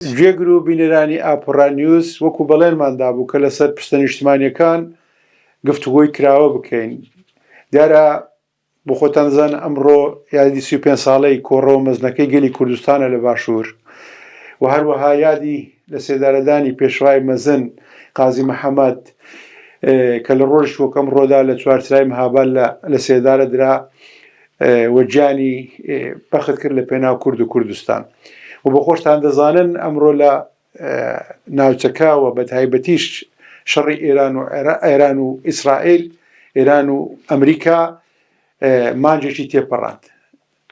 گوێگر و بینەرانی ئاپۆڕا نیوز، وەکو بەڵێنمان دابوو کە لەسەر پرسە نیشتمانیەکان گفتوگۆی کراوە بکەین، دیارە بۆ خۆتان دەزانن ئەمڕۆ یادی سی و پێنج ساڵەی کۆڕەوە مەزنەکەی گەلی کوردستانە لە باشوور و هەروەها یادی لە سێدارەدانی پێشڕای مەزن قازی محەمەد کە لە ڕۆژی وەک ئەمڕۆدا لە چوارچرای مهاباد لە سێدارە درا و گیانی بەخت کرد لە پێناو کورد و کوردستان و بە خۆشتان دەزانن ئەمڕۆ لە ناوچەکە و بە تایبەتیش شەڕی ئێران و ئێران و ئیسرائیل ئێران و ئەمریکا مانجێکی تێپەڕاند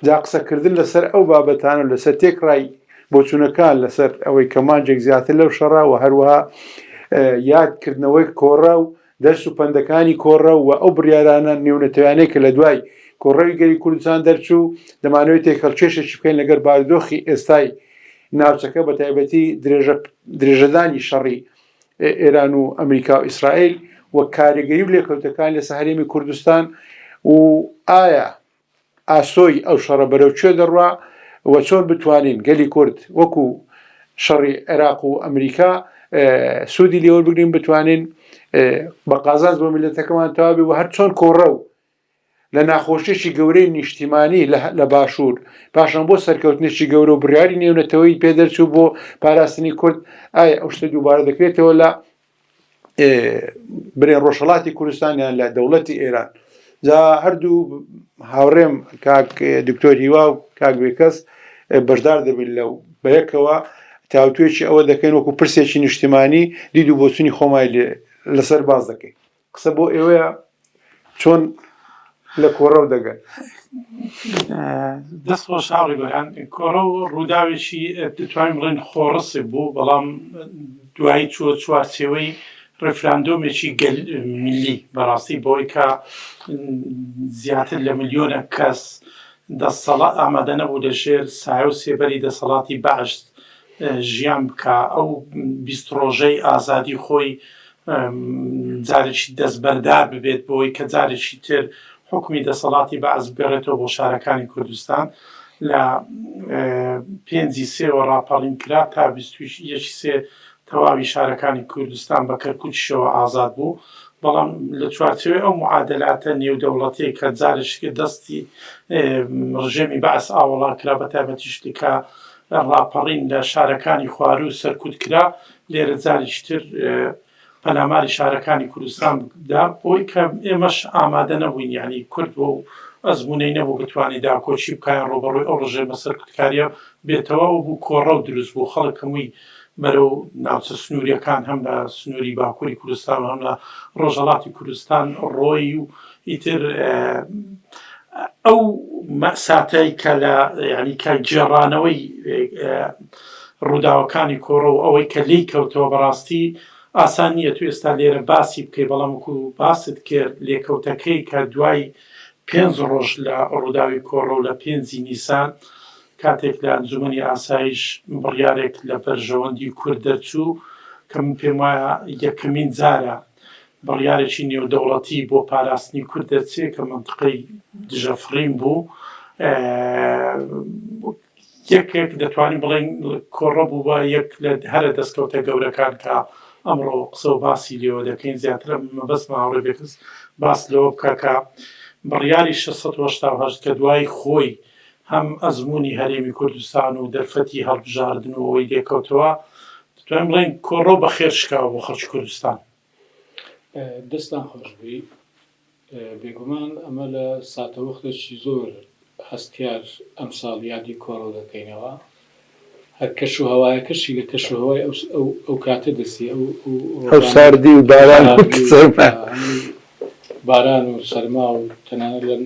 جا قسەکردن لەسەر ئەو بابەتان و لەسەر تێکڕای بۆچوونەکان لەسەر ئەوەی کە مانجێک زیاتر لەو شەڕا و هەروەها یادکردنەوەی کۆڕە و دەرس و پەندەکانی کۆڕە و ئەو بڕیارانە نێونەتەویانەی کە لە دوای کۆڕەوی گەلی کوردستان دەرچوو دەمانەوەی تێکهەڵکێشێکی بکەین لەگەر بارودۆخی ئێستای ناوچەکە بە تایبەتی درێژەدانی شەڕی ئێران و ئەمریکا و ئیسرائیل و کارگەری و لێکەوتەکان لەسە هەرێمی کوردستان و ئایا ئاسۆی ئەو شەڕە بەرەو کوێ دەڕوا و چۆن بتوانین گەلی کورد وەکو شەڕی عێراق و ئەمریکا سوودی لێوەربگرین بتوانین بە قازانج بۆ میلەتەکەمان تەواوی و هەر چۆن کۆڕە و لە ناخۆشیێکی گەورەی نیشتیمانی لە باشوور پاشان بۆ سەرکەوتنێکی گەورە و بڕیاری نێونەتەوەی پێدەرچوو بۆ پاراستنی کورد ئایا ئەو شتە دووبارە دەکرێتەوە لە برێن ڕۆژهڵاتی کوردستانیان لە دەوڵەتی ئێران جا هەردوو هاوڕێم کاک دکتۆر هیوا و کاک بێکەس بەشدار دەبن لەو بەیەکەوە تاوتوێکی ئەوە دەکەین وەکو پرسێکی نیشتمانی دید و بۆچونی خۆمای لەسەر باز دەکەین قسە بۆ ئێوەیە چۆن لە کۆڕەو دەگەن. دەست خۆش هاوڕێ بەرهەم کۆڕەو ڕووداوێکی دەتوانین بڵێن خۆڕسک بوو بەڵام دوایی چووە چوارچێوەی ڕفراندۆمێکی گەل ملی بەڕاستی بۆی کە زیاتر لە ملیۆنە کەس دەسەڵا ئامادە نەبوو لە ژێر سایە و سێبەری دەسەڵاتی بەعشت ژیان بکە ئەو بیست ڕۆژەی ئازادی خۆی جارێکی دەستبەردار ببێت بەوەی کە جارێکی تر حکومی دەسەڵاتی بەعس بگەڕێتەوە بۆ شارەکانی کوردستان لە پێنجی سێوە ڕاپەڕین کرا تا یەکی سێ تەواوی شارەکانی کوردستان بە کەرکوچشەوە ئازاد بوو بەڵام لە چوارچەوەی ئەو معادلاتە نێودەوڵەتەیە کە جارشکە دەستی ڕژێمی بەعس ئاوەڵا کرا بە تایبەتیشتکە ڕاپەڕین لە شارەکانی خوارو سەرکوت کرا لێرە جاریش تر پەلاماری شارەکانی کوردستان دا بۆی کە ئێمەش ئامادە نەبووین یعنی کورد بۆ و ئەزمونەی نەبوو بتوانانی داکۆچی بکیان ڕۆبەڕۆی ئەو ڕژێ مەسەر کوردکاریە بێتەوە و بوو کۆڕە و دروست بوو خەڵک هەمووی بەرەو ناوچە سنووریەکان هەم لە سنووری باکووری کوردستان هەم لە ڕۆژەڵاتی کوردستان ڕۆی و ئیتر ئەو مەئساتەی کە لە یعنی کە گێڕانەوەی ڕووداوەکانی کۆڕە و ئەوەی کە لێی کەوتەوە بەڕاستی ئاسان نییە تو ئێستا لێرە باسی بکەی بەڵام وەکو باست کرد لێکەوتەکەی کە دوای پێنج ڕۆژ لە ڕووداوی کۆڕە و لە پێنجی نیسان کاتێک لە ئەنجومەنی ئاسایش بڕیارێک لە بەرژەوەندی کورد دەرچوو کە من پێم وایە یەکەمین جارە بڕیارێکی نێودەوڵەتی بۆ پاراستنی کورد دەرچێ کە منتقەی دژە فڕین بوو یەکێک دەتوانین بڵێن کۆڕە بوو بە یەک لە هەرە دەستکەوتە گەورەکان کە ئەمڕۆ قسە و باسی لێوە دەکەین زیاترە مەبەست ماوەڕێ بێکس باس لەوە بکە کە بڕیاری 1680 کە دوای خۆی هەم ئەزمموی هەرێمی کوردستان و دەرفەتی هەڵبژاردنەوەی لێکەوتەوە دەتوانین بڵێن کۆڕەو بە خێر شکاوە بۆ خەڵکی کوردستان دەستان خۆشبی بێگومان ئەمە لە ساتەوەختێکی زۆر هەستیار ئەم ساڵ یادی کۆڕۆ دەکەینەوە هەر کەش و هەوایەکەشی لە کەش و هەوای ئەو کاتە دەسی ئەو ساردی و باران باران و سەرما و تەنانە لە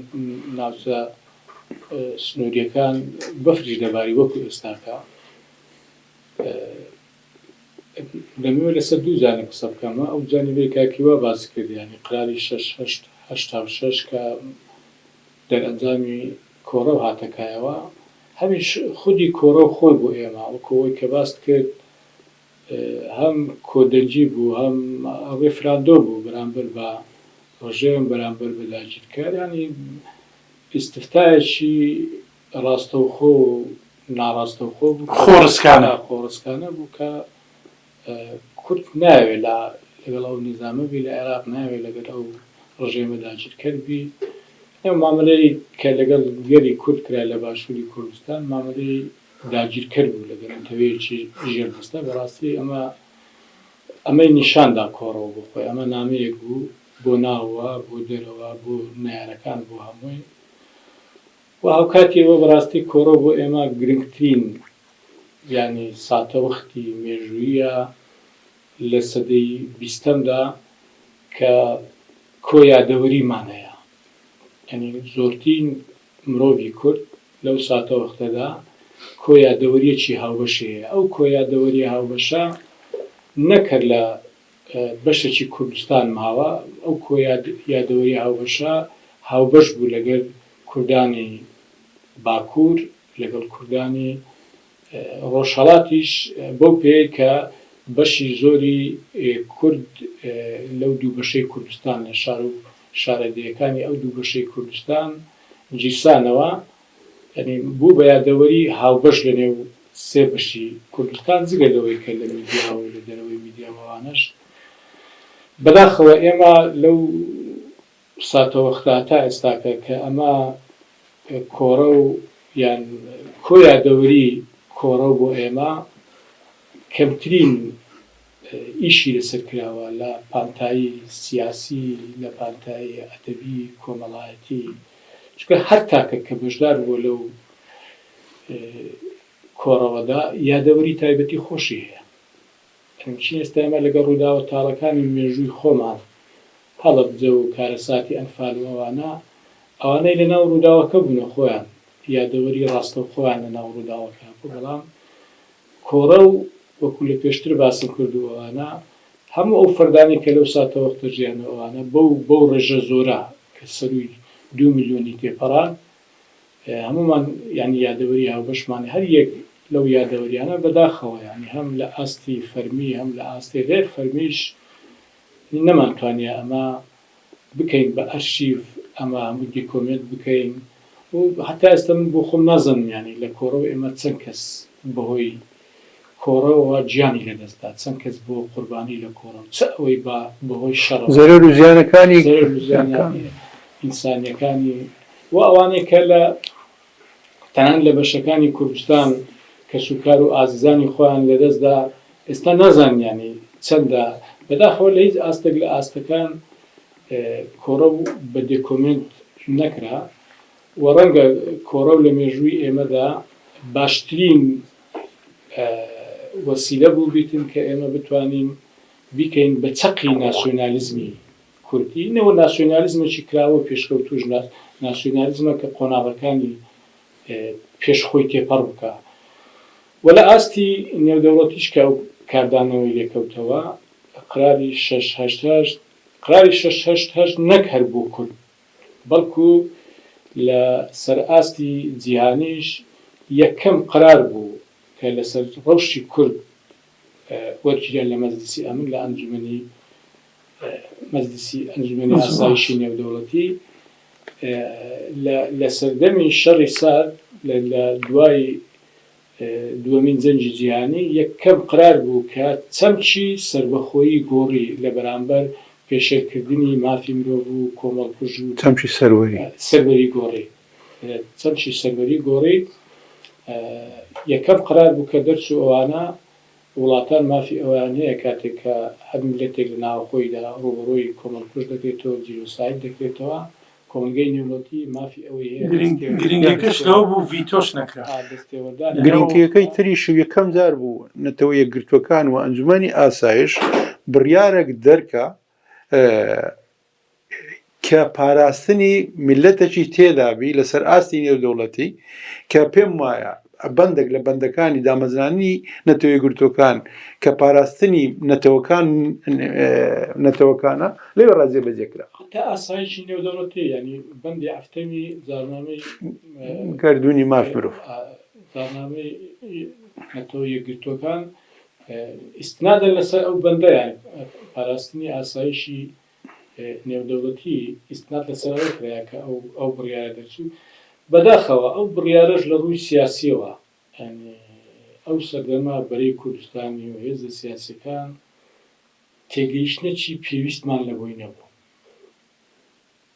ناوچە سنووریەکان بەفریش دەباری وەکو ئێستاکە دەمەوێت لەسەر دوو جانب قسە بکەم ئەو جانبەی کاک هیوا باسی کرد یانی قەراری شەش هەشت هەشتا و شەش کە دەرئەنجامی کۆڕەو هاتە کایەوە هەمیش خودی کۆڕەو خۆی بۆ ئێمە وەکو ئەوەی کە باست کرد هەم کۆدەنگی بوو هەم ڕیفراندۆ بوو بەرامبەر بە ڕژێم بەرامبەر بە داگیرکەر یانی ئیستفتایەکی ڕاستەوخۆ و ناڕاستەوخۆ بوو، خۆڕسکانە خۆڕسکانە بوو کە کورد نایەوێت لە لەگەڵ ئەو نیزامە بی لە عێراق نایەوێت لەگەل ئەو ڕژێمە داگیرکەر بی ئەو مامەلەی کە لەگەڵ گەلی کورد کرا لە باشووری کوردستان مامەلەی داگیرکەر بوو لەگەل نەتەوەیەکی ژێردەستە بەڕاستی ئەمە ئەمەی نیشان دا کۆڕەوە بۆ خۆی ئەمە نامەیەک بوو بۆ ناوە بۆ دەرەوە بۆ نەیارەکان بۆ هەمووی وە هاوکاتی ئەوە بەڕاستی کۆرۆ بۆ ئێمە گرنگترین یانی ساتەوختی مێژووییە لە سەدەی بیستەمدا کە کۆ یادەوەریمان هەیە یانی زۆرتین مرۆڤی کورد لەو ساتەوەختەدا کۆ یادەوەریەکی هاوبەشی هەیە ئەو کۆ یادەوەریە هاوبەشە نەک هەر لە بەشێکی کوردستان ماوە، ئەو کۆ یادەوەریە هاوبەشە هاوبەش بوو لەگەل کوردانی باکور لەگەڵ کوردانی ڕۆژهەڵاتیش بەو پێیەی کە بەشی زۆری کورد لەو دوو بەشەی کوردستان لە شارو شارەدێیەکانی ئەو دوو بەشەی کوردستان گیرسانەوە یانی بوو بە یادەوەری هاوبەش لە نێو سێ بەشی کوردستان، جگە لەوەی کە لە میدیا و لە دەرەوەی میدیا و ئەوانەش. بەداخەوە ئێمە لەو ساتەوەختە تا ئێستاکە کە ئەمە کۆڕە و یان کۆ یادەوەری کۆڕە و بۆ ئێمە کەمترین ئیشی لەسەر کراوە لە پانتایی سیاسی، لە پانتایی ئەدەبی، کۆمەڵایەتی. چونکە هەر تاکەک کە بەشدار بووە لەو کۆڕەوەدا یادەوەری تایبەتی خۆشی هەیە ئەمچین ئێستا ئێمە لەگەڵ ڕووداوە تاڵەکانی مێژووی خۆمان هەڵەبجە و کارەساتی ئەنفال و ئەوانە ئەوانەی لە ناو ڕووداوەکە بوونە خۆیان یادەوەری ڕاستەوخۆیان لە ناو ڕووداوەکە بوو بەڵام کۆڕە و وەکو لە پێشتر باسم کردوو ئەوانە هەموو ئەو فەردانەی کە لەو ساتەوەختە ژیان و ئەوانە بەو بەو ڕێژە زۆرە کە سەرووی دوو ملیۆنی تێپەڕان هەموومان یانی یادەوەری هاوبەشمانە هەر یەک لەو یادەوەریانە بەداخەوە یانی هەم لە ئاستی فەرمی هەم لە ئاستی غێر فەرمیش نەمانتوانیە ئەمە بکەین بە ئەرشیف ئەمە هەمووی دیکۆمێنت بکەین و هەتا ئێستا من بۆ خۆم نازانم یانی لە کۆڕەو ئێمە چەند کەس بەهۆی کۆڕەوەوە گیانی لەدەستدا چەند کەس بووە قوربانی لە کۆڕەو چ ئەوەی با بەهۆی شەڕەوە زەرەر و زیانەکانی زەرەر و زیانە ئینسانیەکانی و ئەوانەی کە لە تەنانەت لە بەشەکانی کوردستان کەسوکار و ئازیزانی خۆیان لەدەستدا، ئێستا نازانیانی چەندە، بەداخەوە لە هیچ ئاستێک لە ئاستەکان کۆڕەو بە دێکۆمێنت نەکرا و ڕەنگە کۆڕەو لە مێژووی ئێمەدا باشترین وەسیلە بووبیتن کە ئێمە بتوانین بیکەین بە چەقی ناسیۆنالیزمی کوردی، نەوە ناسیۆنالیزمێکی کراوە و پێشکەوتووش، ناسیۆنالیزمە کە قۆناغەکانی پێش خۆی تێپەڕ بکا و لە ئاستی نێودەوڵەتیش کە ئەو کاردانەوەی لێ کەوتەوە، قراری شەش هەشت هەشت، قراری شەش هەشت هەشت نەک هەر بۆ کورد، بەڵکو لە سەر ئاستی جیهانیش یەکەم قرار بوو کە لە سەر ڕەوشی کورد وەرگیرا لە مەجلیسی ئەمن، لە ئەنجومەنی. مەجلیسی ئەنجومەنی ئاسایشی نێودەوڵەتی لە سەردەمی شەڕی سارد لە دوای دووەمین جەنگی جیهانی یەکەم قەرار بوو کە چەمکی سەربەخۆیی گۆڕی لە بەرامبەر پێشێلکردنی مافی مرۆڤ و کۆمەڵکوژی و چەمکی سەروەری گۆڕی. چەمکی سەروەری گۆڕی یەکەم قەرار بوو کە دەرچوو ئەوانە وڵاتان مافی ئەوەیان هەیە کاتێک کە هەر میللەتێک لە ناوەخۆیدا ڕووبەڕووی کۆمەڵکوژ دەکرێتەوە، جینۆساید دەکرێتەوە، کۆمەڵگەی نێودەوڵەتی مافی ئەوەی هەیە دەستێوەردان گرنگیەکەی تریش و یەکەم جار بوو نەتەوە یەکگرتووەکان و ئەنجومەنی ئاسایش بڕیارەک دەرکا کە پاراستنی میللەتەکی تێدا بی لە سەر ئاستی نێودەوڵەتی کە پێم وایە بەندەک لە بەندەکانی دامەزراننی نەتەوە یەکگرتووەکان کە پاراستنی نەتەوەکان نەتەوەکانە لەوێ ڕا جێ بەجێ کرا. حەتتا ئاسایشی نێودەوڵەتی یانی بەندی ئەفتەمی جاڕنامەی گەردوونی مافی مرۆڤ. جاڕنامەی نەتەوە یەکگرتووەکان ئیستنادەن لەسەر ئەو بەندە یان پاراستنی ئاسایشی نێودەوڵەتی ئیستناد لەسەر ئەوە کرایە کە ئەو ئەو بڕیارە دەرچوو، بەداخەوە ئەو بڕیارەش لە ڕووی سیاسییەوە یانی ئەو سەردەمە بەرەی کوردستانی و هێزە سیاسییەکان تێگەیشتنێکی پێویستمان لەبۆی نەبوو.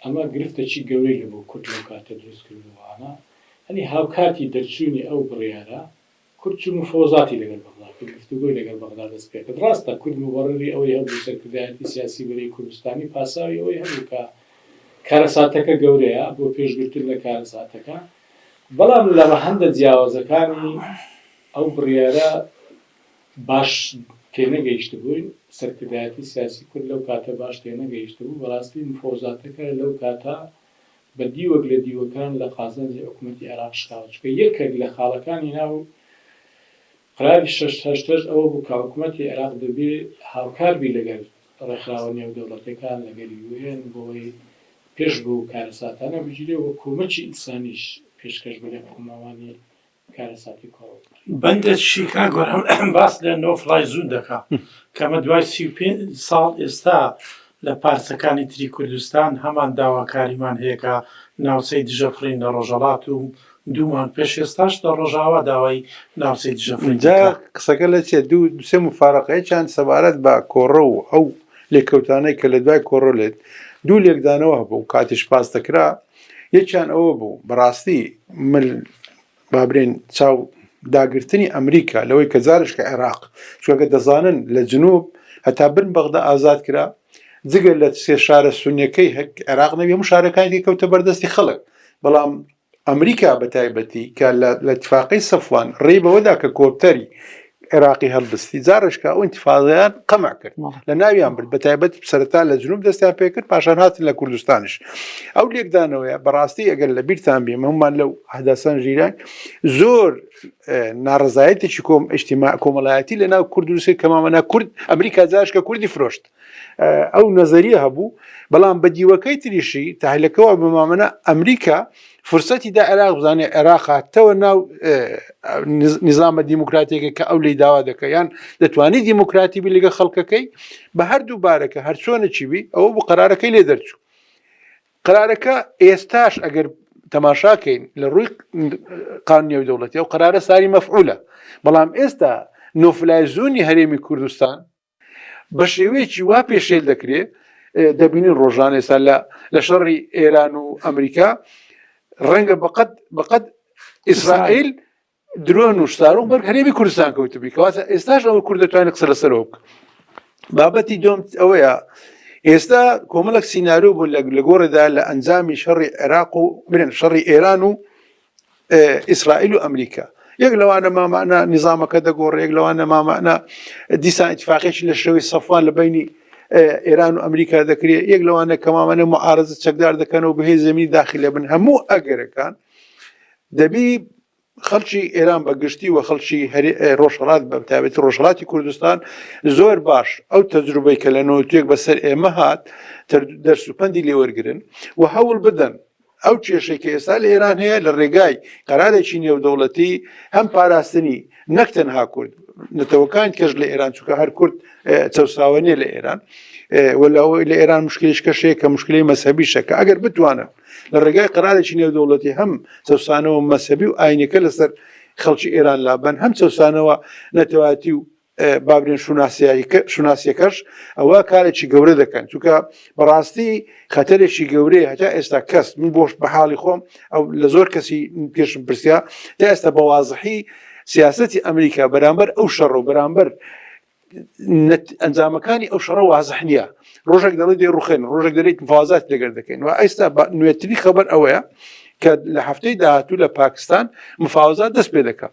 ئەمە گرفتێکی گەورەی لەبۆ کورد لەو کاتە دروست کردبوو. ئەمە یانی هاوکاتی دەرچوونی ئەو بڕیارە، کورد چون مفۆزاتی لەگەل بەغدا کرد گفتوگۆی لەگەل بەغدا دەست پێکرد راستە کورد موبەڕری ئەوەی هەبوو سەرکردایەتی سیاسی بەرەی کوردستانی پاساوی ئەوەی هەبوو کە کارەساتەکە گەورەیە بۆ پێش گرتن لە کارەساتەکە بەڵام لە رەهەندە جیاوازەکانی ئەو بڕیارە باش تێنەگەیشتبووین سەرکردایەتی سیاسی کورد لەو کاتە باش تێنەگەیشتبوو بەڕاستی مفۆزاتەکە لەو کاتە بە دیوەک لە دیوەکان لە قازانجی حکوومەتی عێراق شکاوە، چونکە یەکێک لە خاڵەکانی ناو قەراری شەش هەشتەش ئەوە بوو کە حکوومەتی عێراق دەبێ هاوکار بی لەگەل ڕێکخراوە نێودەوڵەتییەکان، لەگەل یوو ئێن بۆی پێش بەو کارەساتانە بگیرێ و کۆمەکی ئینسانیش پێشکەش بە لای قەوماوانی کارەساتی کۆڕەوپڕی. بەندە شیکاگۆ هەم باس لە نۆ فلای زون دەکا کە ئەمە دوای سی و پێنج ساڵ ئێستا لە پارچەکانی تری کوردستان هەمان داواکاریمان هەیە کە ناوچەی دژەفڕین لە ڕۆژەڵات و دوو مانگ پێش ئێستاش لە ڕۆژاوا داوای ناوچەی دژەفڕین جا دەکا. قسەکە لە چیە دوو دوو سێ موفارەقە یەکیان سەبارەت بە کۆڕە و ئەو لێکەوتانەی کە لە دوای کۆڕۆ لێت دوو لێکدانەوە هەبوو کاتیش باس دەکرا یەکیان ئەوە بوو بەڕاستی مل بابرێن چاو داگرتنی ئەمریکا لەوەی کە زارش کە عێراق چۆگە دەزانن لە جنوب هەتا بن بەغدا ئازاد کرا جگە لە سێ شارە سونەکەی هەک عێراق نەبی هەموو شارەکانی کەوتە بەردەستی خەڵک بەڵام ئەمریکا بە تایبەتی کە لە تفاقی سەفوان ڕێ بەوەدا کە کۆپتەری عێراقی هەڵبستی جارشکا ئەو ئینتیفاضەیان قەمع کرد لە ناویان برد بە تایبەت سەرتا لە جنوب دەستیان پێکرد پاشان هاتن لە کوردستانش ئەو لێکدانەوەیە بەڕاستی ئەگەر لە بیرتان بێ هەمومان لەو هەداسان ژیران زۆر ناڕزایەتێکی کۆم ئشتیما کۆمەڵایەتی لە ناو کوردوسی کەمامەنا کورد ئەمریکا جاشکە کوردی فرۆشت ئەو نەزەریە هەبوو بەڵام بە دیوەکەی تریشی تاهلەکەەوە بمامەە ئەمریکا فرسەتی دا عێراق بزانێ عێراقاتەوە ناو نظامە دیموکراتێکە کە ئەو لی داوا دەکە یان دەتوانی دیموکراتی بی لەگە خەڵکەکەی بە هەردوو بارەکە هەرچۆنە چی بی ئەوە بۆ قرارەکەی لێ دەرچوو قرارەکە ئێستاش ئەگەر تەماشاکەین لە ڕووی قانونی و دەوڵەتی ئەو قرارە ساری مەفعولە بەڵام ئێستا نۆفلایزونی هەرێمی کوردستان بە شێوەیەکی وا پێشێل دەکرێ دەبینین ڕۆژان ئێستا لە لە شەڕی ئێران و ئەمریکا ڕەنگە بەقەت بەقەت ئیسرائیل درۆن و شتارۆک بەر هەرێمی کوردستان کەوتبی کەواتە ئێستاش ئەوە کورد دەتوانێت قسە لەسەرەوە بکە بابەتی دۆم ئەوەیە ئێستا کۆمەڵک سینناریو بوو لە گۆڕێدا لە ئەنجامی شەڕی عێراق و برێن شەڕی ئێران و ئیسرائیل و ئەمریکا یەک لەوانە مامانە نظامەکە دەگۆڕێ یەک لەوانە مامانە دیسان اتفاقێکی لە شێوەی سەفان لە بینی ئێران و ئەمریکا دەکرێت یەک لەوانە کەمامانە معارزە چەکدار دەکەنەوە بهێ زمینی داخل لە بن هەموو ئەگەرەکان دەبی خەڵکی ئێران بە گشتی و خەڵکی ڕۆژهڵات بە تابێتی ڕۆژهڵاتی کوردستان زۆر باش ئەو تەجروبەی کە لە نۆتوێک بەسەر ئێمە هات دەرسوپەندی لێوەرگن و هەوڵ بدەن ئەو کێشەی کە ئێستا لە ئێران هەیە لە ڕێگای قەرارێکی نێودەوڵەتی هەم پاراستنی نەک تەنها کورد نەتەوەکان کەش لە ئێران چووکە هەر کورد چەساوە نیە لە ئێران وەلاەوەی لە ئێران مشکلیش کەشەیە کە مشکلی مەسەبی شەکە ئەگەر بتوانن لە ڕێگای قرارێکی نێودەوڵەتی هەم چەسانەوە مەسەبی و ئاینەکە لەسەر خەڵکی ئێران لابن هەم چەسانەوە نەتەواتی و بابرێن شوناسیەکەش ئەوە کارێکی گەورە دەکەن چونکە بەڕاستی خەتەرێکی گەورەیە هەتا ئێستا کەس من بۆش بە حاڵی خۆم ئەو لە زۆر کەسی پێشم پرسیا تا ئێستا بە وازحی سیاستی ئەمریکا بەرامبەر ئەو شەڕ و بەرامبەر ئەنجامەکانی ئەو شەڕە وازح نییە ڕۆژێک دەڵێ دێ ڕوخێن ڕۆژێک دەێت مفازات لەگەر دەکەین و ئێستا نوێتری خەبەر ئەوەیە کە لە هەفتەی داهاتوو لە پاکستان مفاوزات دەست پێ دەکات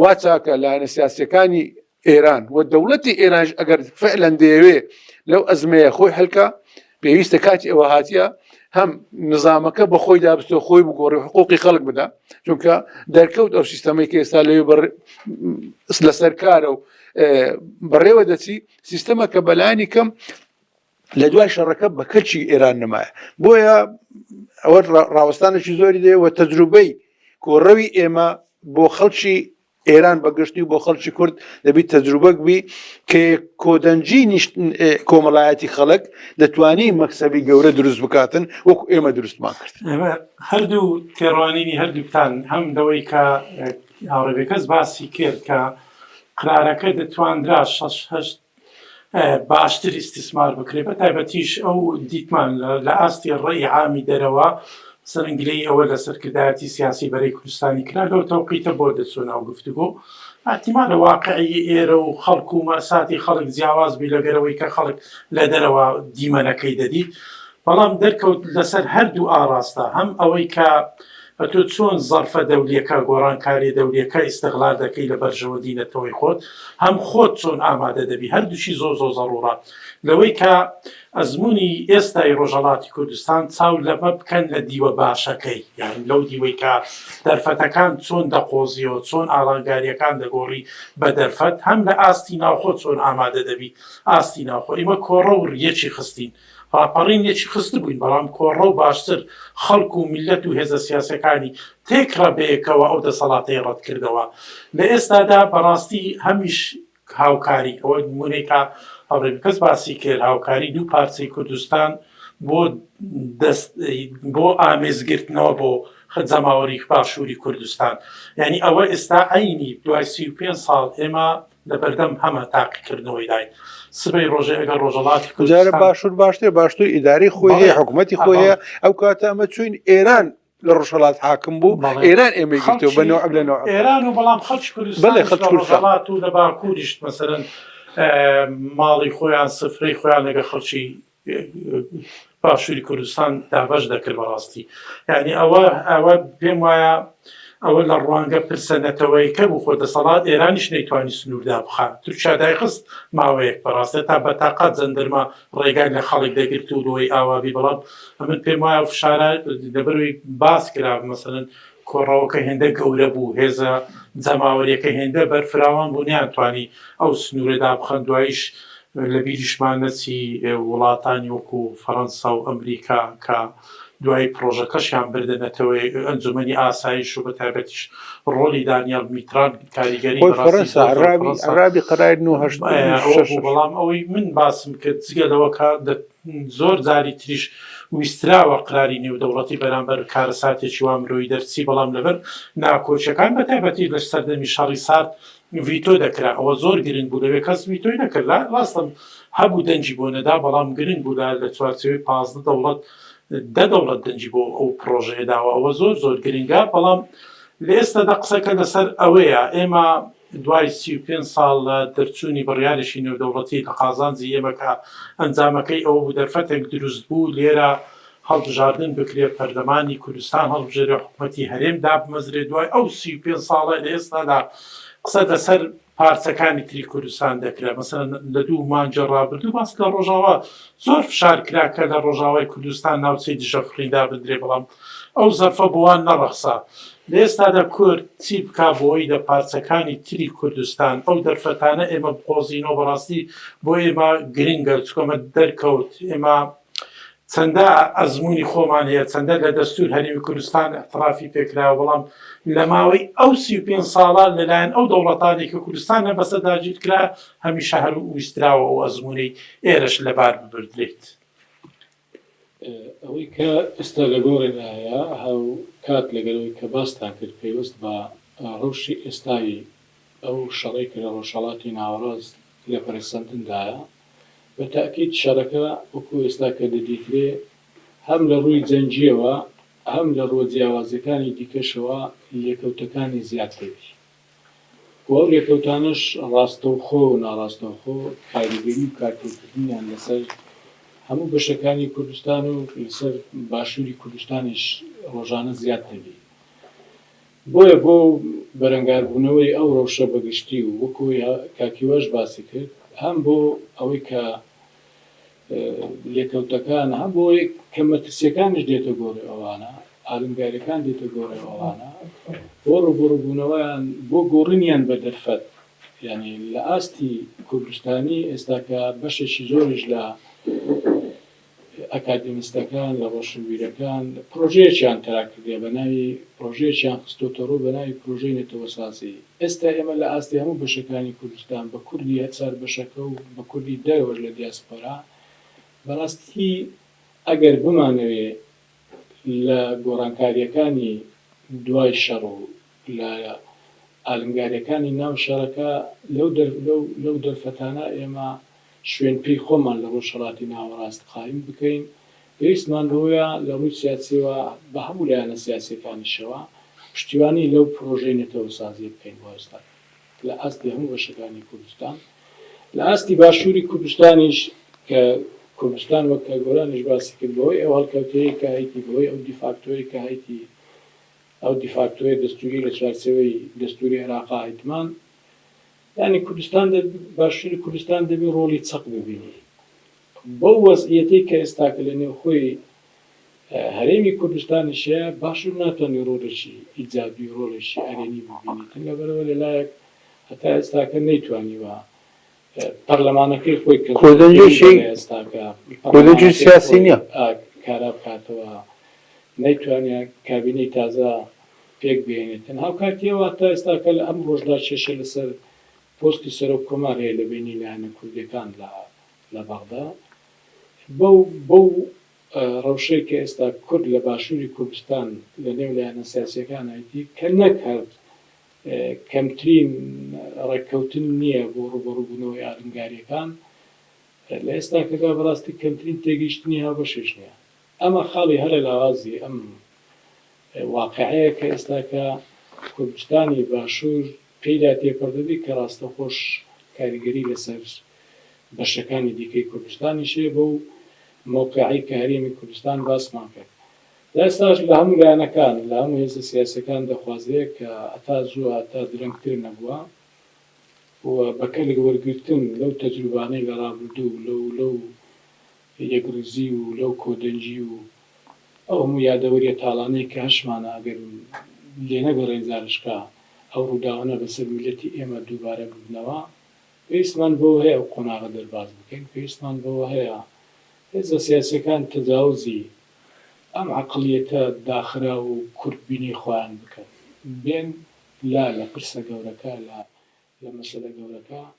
وا چاکە لایەنە سیاسەکانی ئێران و دەوڵەتی ئێرانش ئەگەر فعلەن دەیەوێ لەو ئەزمەیە خۆی هەلکە پێویستە کاتی ئەوە هااتە هەم نظامەکە بە خۆی دابستۆ خۆی بگۆڕی حقوقی خەڵک بدا چونکە دەرکەوت ئەو سیستەمەی کە ئێستا لەوێ لەسەر کارە و بەڕێوە دەچی سیستەمە کە بەلانی کەم لە دوای شەڕەکە بە کەچی ئێران نمایە بۆیە ئەوە ڕاوەستانێکی زۆری دێ وە تەجروبەی کۆڕەوی ئێمە بۆ خەڵکی ئێران بەگشتی بۆ خەڵکی کورد دەبیت تەجروبەک بی کە کۆدەنجی کۆمەڵایەتی خەڵک دەتوانی مەکسەبی گەورە دروست بکاتن وەکو ئێمە دروستمان کرد هەردوو تێڕوانینی هەردووکتان هەم دەوەی کە هاوڕێبێکەس باسی کرد کە قرارەکە دەتواندرا 6 باشتر ئیستیسمار بکرێت بە تایبەتیش ئەو دیتمان لە ئاستی ڕێی عامی دەرەوە سەرنگ لێی ئەوە لە سەرکردایەتی سیاسی بەرەی کوردستانی کرا لەو تەوقیتە بۆ دەچوو ناو گفتوگۆ ئەحتیمالە واقعی ئێرە و خەڵک و مەساتی خەڵک جیاواز بی لەگەرەوەی کە خەڵک لە دەرەوە دیمەنەکەی دەدیت بەڵام دەرکەوت لەسەر هەردوو ئاڕاستە، هەم ئەوەی کە ئەتۆ چۆن زەڕفە دەولیەکە، گۆڕانکاریە دەولیەکە ئیستغلال دەکەی لە بەرژەوەندی نەتەوەی خۆت، هەم خۆت چۆن ئامادە دەبی، هەردووکی زۆر زۆر زەڕوڕە لەوەی کە ئەزموونی ئێستای ڕۆژهەڵاتی کوردستان چاو لەمە بکەن لە دیوە باشەکەی، یانی لەو دیوەی کە دەرفەتەکان چۆن دەقۆزیەوە، چۆن ئاڵانگاریەکان دەگۆڕی بە دەرفەت، هەم لە ئاستی ناوخۆ چۆن ئامادە دەبی، ئاستی ناوخۆ ئیمە کۆڕەو ڕیەکی خستین، ڕاپەڕینێکی خستبووین، بەڵام کۆڕە و باشتر خەڵک و میللەت و هێزە سیاسیەکانی تێکڕا بەیەکەوە ئەو دەسەڵاتەی ڕەتکردەوە. لە ئێستادا بەڕاستی هەمیش هاوکاری، ئەوە نموونەی کە هاوڕێ بەکەس باسی کرد، هاوکاری دوو پارچەی کوردستان بۆ دەست بۆ ئامێز گرتنەوە بۆ جەماوەری باشووری کوردستان یانی ئەوە ئێستا عەینی دوای سی و پێنج ساڵ ئێمە لەبەردەم هەمە تاقیکردنەوەی داین سبەی ڕۆژێ ئەگەر ڕۆژەڵاتی کوردارە باشوور باشتر باشتر ئیداری خۆی هەیە حکوومەتتی خۆی هەیە ئەو کاتە ئەمە چوین ئێران لە ڕۆژەڵات حاکم بوو ئێران ئێمە گرتو بە نوع لە نوع ئێران و بەڵام خەڵ بڵێ خەڵات و لە باکووریشت مەسەرەن ماڵی خۆیان سفرەی خۆیان لەگە خەڵکی باشوری کوردستان دابەش دەکرد بەڕاستی یعنی ئەوە ئەوە پێم وایە ئەوە لە ڕوانگە پرسە نەتەوەیکە بوو خۆ دەسەڵات ئێرانیش نەیتوانی سنووردا بخات تورکیا دایخست ماوەیەک بەڕاستە تا بەتاقات زەندرما ڕێگای لە خەڵک دەگرت و لەوەی ئاوابی بەڵام ئەمن پێم وایە فشارە دەبەروی باس کرا مەسەن کۆڕەوەکە هێندە گەورە بوو، هێزە جەماوەرییەکە هێندە بەرفراوان بوو نەیانتوانی ئەو سنوورە دابخەن، دواییش لە بیریشمان نەچی وڵاتانی وەکو فەرەنسا و ئەمریکا کە دوای پڕۆژەکەشیان بردە نەتەوە ئەنجومەنی ئاسایش و بەتایبەتیش ڕۆڵی دانیال میتران کاریگەری بە ڕاستی زۆر زۆر فەرەنسا ئەوە بوو، بەڵام ئەوەی من باسم کرد جگە لەوە کە زۆر جاری تریش ویستراوە قراری نێودەوڵەتی بەرامبەر کارەساتێکی وا مرۆیی دەرچی، بەڵام لەبەر ناکۆکیەکان بە تایبەتی لە سەردەمی شەڕی سارد ڤیتۆ دەکرا، ئەوە زۆر گرنگ بوو لەوێ کەس ڤیتۆی نەکرد لە ڕاستە هەبوو دەنگی بۆ نەدا بەڵام گرنگ بوو لە لە چوارچێوەی پازدە دەوڵەت دە دەوڵەت دەنگی بۆ ئەو پڕۆژەیە داوە ئەوە زۆر زۆر گرنگە بەڵام لە ئێستادا قسەکە لەسەر ئەوەیە ئێمە دوای سی و پێنج ساڵ لە دەرچوونی بڕیارێکی نێودەوڵەتی لە قازانجی ئێمە کە ئەنجامەکەی ئەوە بوو دەرفەتێک دروست بوو لێرە هەڵبژاردن بکرێت، پەرلەمانی کوردستان هەڵبژێرێت، حکومەتی هەرێم دابمەزرێت، دوای ئەو سی و پێنج ساڵە لە ئێستادا قسە لەسەر پارچەکانی تری کوردستان دەکرێت، مەسەلەن لە دوو مانگی ڕابردوو باس لە ڕۆژاوا زۆر فشار کرا کە لە ڕۆژاوای کوردستان ناوچەی دژە فڕین دابنرێت، بەڵام ئەو زەرفە بۆ وان نەڕەخسا. لە ئێستادا کورد چی بکا بۆی لە پارچەکانی تری کوردستان ئەو دەرفەتانە ئێمە بقۆزینەوە بەڕاستی بۆ ئێمە گرنگە چکۆمە دەرکەوت ئێمە چەندە ئەزمموی خۆمان هەیە چەندە لە دەستور هەرمی کوردستان احترافی پێکراوە بەڵام لە ماوەی ئەو سی پێ ساڵە لەلایەن ئەو دەوڵەتانی کە کوردستان هە بەسە داگیر کرا هەمیشە هەر ویستراوە ئەو ئەزمموی ئێرش لەبار ببردرێت. ئەوەی کە ئێستا لە گۆڕێنایە هاوکات لەگەل ئەوەی کە باستان کرد پەیوەست بە رەوشی ئێستای ئەو شەڕەی کە لە رۆژهەڵاتی ناوەڕاست لە پەرەسەندندایە، بە تەئکید شەرەکە وەکو ئێستا کە دەدیترێ هەم لە رووی جەنگیەوە هەم لە رووە جیاوازەکانی دیکەشەوە لێکەوتەکانی زیاد دەبی. و ئەو لێکەوتانەش ڕاستەوخۆ و ناڕاستەوخۆ کاریگەری و کارکردکردنیان لەسەر هەموو بەشەکانی کوردستان و لەسەر باشووری کوردستانیش ڕۆژانە زیاد دەبێ. بۆیە بۆ بەرەنگاربوونەوەی ئەو ڕەوشە بەگشتی و وەکوو ئەوەی کاک هیواش باسی کرد هەم بۆ ئەوەی کە، لێکەوتەکان هەم بۆیە کە مەترسیەکانش دێتە گۆڕێ ئەوانە ئالنگاریەکان دێتە گۆڕێ ئەوانە بۆ ڕوبڕبوونەوەیان بۆ گۆڕنیان بە دەرفەت یعنی لە ئاستی کوردستانی ئێستاکە بەشێکی زۆرش لە ئەکادمیستەکان لە ڕۆشنبیرەکان پرۆژەیەکیان تەراکردێ بە ناوی پرۆژەیەکیان خستۆتە ڕوو بە ناوی پرۆژەی نەتەوەسازی ئێستا ئێمە لە ئاستی هەموو بەشەکانی کوردستان بە کوردی هەرچار بەشەکە و بە کوردی دەرەوەش لە دیاسپۆرا بەڕاستی ئەگەر بمانەوێ لە گۆڕانکارییەکانی دوای شەڕ و لە ئالنگارییەکانی ناو شەڕەکە لەو لەو دەرفەتانە ئێمە شوێن پێی خۆمان لە ڕۆژهەڵاتی ناوەڕاست قایم بکەین پێویستمان بەوەیە لە ڕووی سیاسییەوە بە هەموو لایەنە سیاسییەکانیشەوە پشتیوانی لەو پرۆژەی نەتەوەسازییە بکەین بۆ ئێستا لە ئاستی هەموو بەشەکانی کوردستان لە ئاستی باشووری کوردستانیش کە کوردستان وەک کە گۆرانیش باسی کرد بەهۆی ئەو هەڵکەوتەیەی کە هەیتی بەهۆی ئەو دیفاکتۆیەی کە هەیتی ئەو دیفاکتۆیە دەستووری لە چوارچێوەی دەستووری عێراقا هەیتمان یانی کوردستان باشووری کوردستان دەبێ ڕۆڵی چەق ببینی بەو وەزعیەتەی کە ئێستاکە لە نێوخۆی هەرێمی کوردستانیش هەیە، باشور ناتوانێت ڕۆڵێکی ئیجابی و ڕۆڵێکی ئەرێنی ببینێت، لەبەرئەوە لە لایەک هەتا ئێستاکە نەیتوانیوە پەرلەمانەکەی خۆی کە زۆر گەورەیە لە ئێستاکە، پەرلەمانەکەی خۆی کارا بکاتەوە، نەیتوانیوە کابینەی تازە پێک بهێنێتن، هاوکاتیەوە هەتا ئێستاکە لە ئەمڕۆشدا کێشە لەسەر پۆستی سەرۆک کۆمار هەیە لە بەینی لایەنە کوردیەکاندا، لە بەغدا بەو بەو ڕەوشەی کە ئێستا کورد لە باشووری کوردستان لە نێو لایەنە سیاسییەکان ئەیدی کە نەک هەر کەمترین ڕێککەوتن نییە بۆ ڕووبەڕووبوونەوەی ئالنگارییەکان لە ئێستاکەدا بەڕاستی کەمترین تێگەیشتنی هاوبەشیش نییە ئەمە خاڵی هەرە لاوازی ئەم واقعەیە کە ئێستاکە کوردستانی باشوور پێیدا تێپەڕدەبێت کە ڕاستەوخۆش کاریگەری لەسەر بەشەکانی دیکەی کوردستانیش هەیە بەو مەوقعەی کە هەرێمی کوردستان باسمان کرد لە ئێستاش لە هەموو لایەنەکان لە هەموو هێزە سیاسیەکان دەخوازرێت کە هەتا زوو هەتا درەنگتر نەبووە و بە کەلک وەرگرتن لەو تەجروبانەی لە ڕابردوو لەو لەو یەکڕیزی و لەو کۆدەنگی و ئەو هەموو یادەوەریە تاڵانەی کە هەشمانە ئەگەر لێنەگەڕێین زارشکا ئەو ڕووداوانە بەسەر میللەتی ئێمە دووبارە ببنەوە پێویستمان بەوە هەیە ئەو قۆناغە دەرباز بکەین پێویستمان بەوە هەیە هێزە سیاسیەکان تەجاوزی ئەم عەقڵیەتە داخراو و کورت بینی خۆیان بکەن بێن لا لە پرسە گەورەکە لا لە مەسەلە گەورەکە.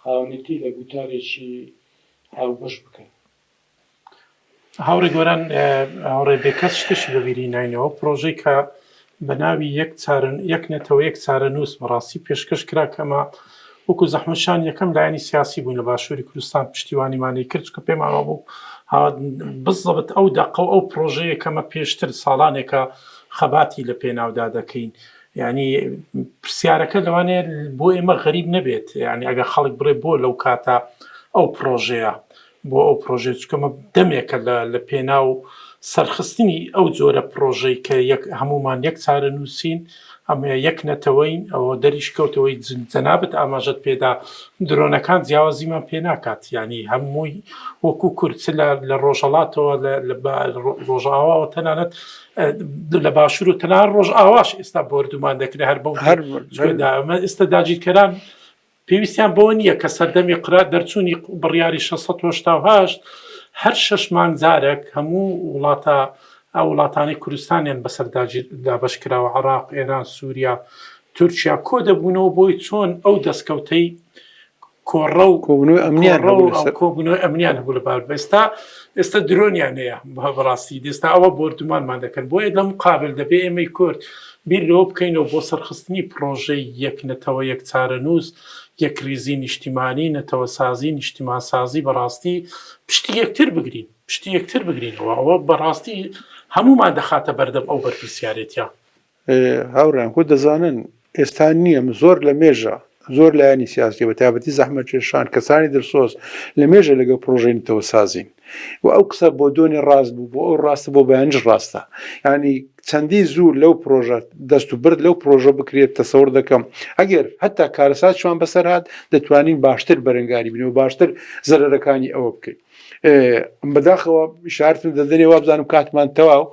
خاوەنێتی لە گوتارێکی هاوبەش بکەن. هاوڕێ گۆران هاوڕێ بێکەس شتێکی بەبیری ناینەوە پرۆژەی کە بە ناوی یەک چارن یەک نەتەوە یەک چارە نووس بەڕاستی پێشکەش کرا کەمە وەکو زەحمەشان یەکەم لایەنی سیاسی بوون لە باشووری کوردستان پشتیوانیمانی کرد کە پێمانەوە بوو بزڵبت ئەو دەقە و ئەو پرۆژەیە کەمە پێشتر ساڵانێکە خەباتی لە پێناودا دەکەین یانی پرسیارەکە لەوانەیە بۆ ئێمە غەریب نەبێت یانی ئەگە خەڵک بڕێ بۆ لەو کاتە ئەو پرۆژەیە بۆ ئەو پرۆژێ چکەمە دەمێکە لە پێنا و سەرخستنی ئەو جۆرە پرۆژەی کە یەک هەمومان یەک چارە نووسین ئەمە یەک نەتەوەین ئەوە دەریش کەوتەوەی جەنابەت ئاماژەت پێدا درۆنەکان جیاوازیمان پێ ناکات ینی هەمووی وەکو کورد لە ڕۆژەڵاتەوە لە ڕۆژاواوە تەنانەت لە باشور و تەنان ڕۆژ ئاواش ئێستا بۆردومان دەکرێت هەر بە هەرمە ئێستا داگیرکەران پێویستیان بۆ نییە کە سەردەمی قرات دەرچوونی بڕیاری 1680 هەر شش مانگ جارێک هەموو وڵاتە ئەو وڵاتانی کوردستانیان بەسەر دابش کراوە عراق ئێران سووریا تورکیا کۆ دەبوونەوە بۆی چۆن ئەو دەستکەوتەی کۆڕە و کۆبنەوە ئەمنیان کۆبنەوە ئەمنیان هەبوو لە بار بەستا ئێستا درۆنیان هەیە بەڕاستی دێستا ئەوە بردومانمان دەکەن بۆیە لەم قابل دەبێ ئێمەی کورد بیر لەوە بکەینەوە بۆ سەرخستنی پرۆژەی یەک نەتەوە یەک چارە نووس یەک ریزی نیشتیمانی نەتەوە سازی نیشتیمان سازی بەڕاستی پشتی یەکتر بگرین پشتی یەکتر بگرینەوە ئەوە بەڕاستی هەمومان دەخاتە بەردەم ئەو بەرپرسیارێتە هاوڕێیان خۆ دەزانن ئێستا نییە زۆر لە مێژە زۆر لایەنی سیاسی بە تابەتی زەحمە کێشان کەسانی دڵسۆز لە مێژە لەگە پرۆژەی نتەوە سازین و ئەو قسە بۆ دۆنی ڕاست بوو بۆ ئەو ڕاستە بۆ بەیانش ڕاستە ینی چەندی زوو لەو پرۆژە دەست و برد لەو پرۆژە بکرێت تەسەور دەکەم ئەگەر هەتا کارەساتشمان بەسەر هاات دەتوانین باشتر بەرەنگاری بنەوە باشتر زەرەرەکانی ئەوە بکەین بەداخەوە شارتن دەدەێ وابزانم کاتمان تەواو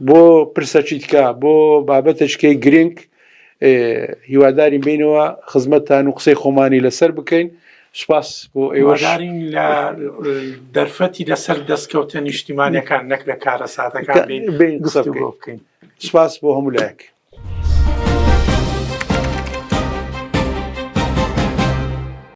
بۆ پرسە چیتکە بۆ بابەتە چکەی گرنگ هیوادارین بینەوە خزمەتتان و قسەی خۆمانی لەسەر بکەین سپاس بۆ ئێوەدارین لە دەرفەتی لەسەر دەستکەوتە نیشتیمانەکان نەک لە کارە سادەکان بین قسە بکەین سپاس بۆ هەموو لایەک.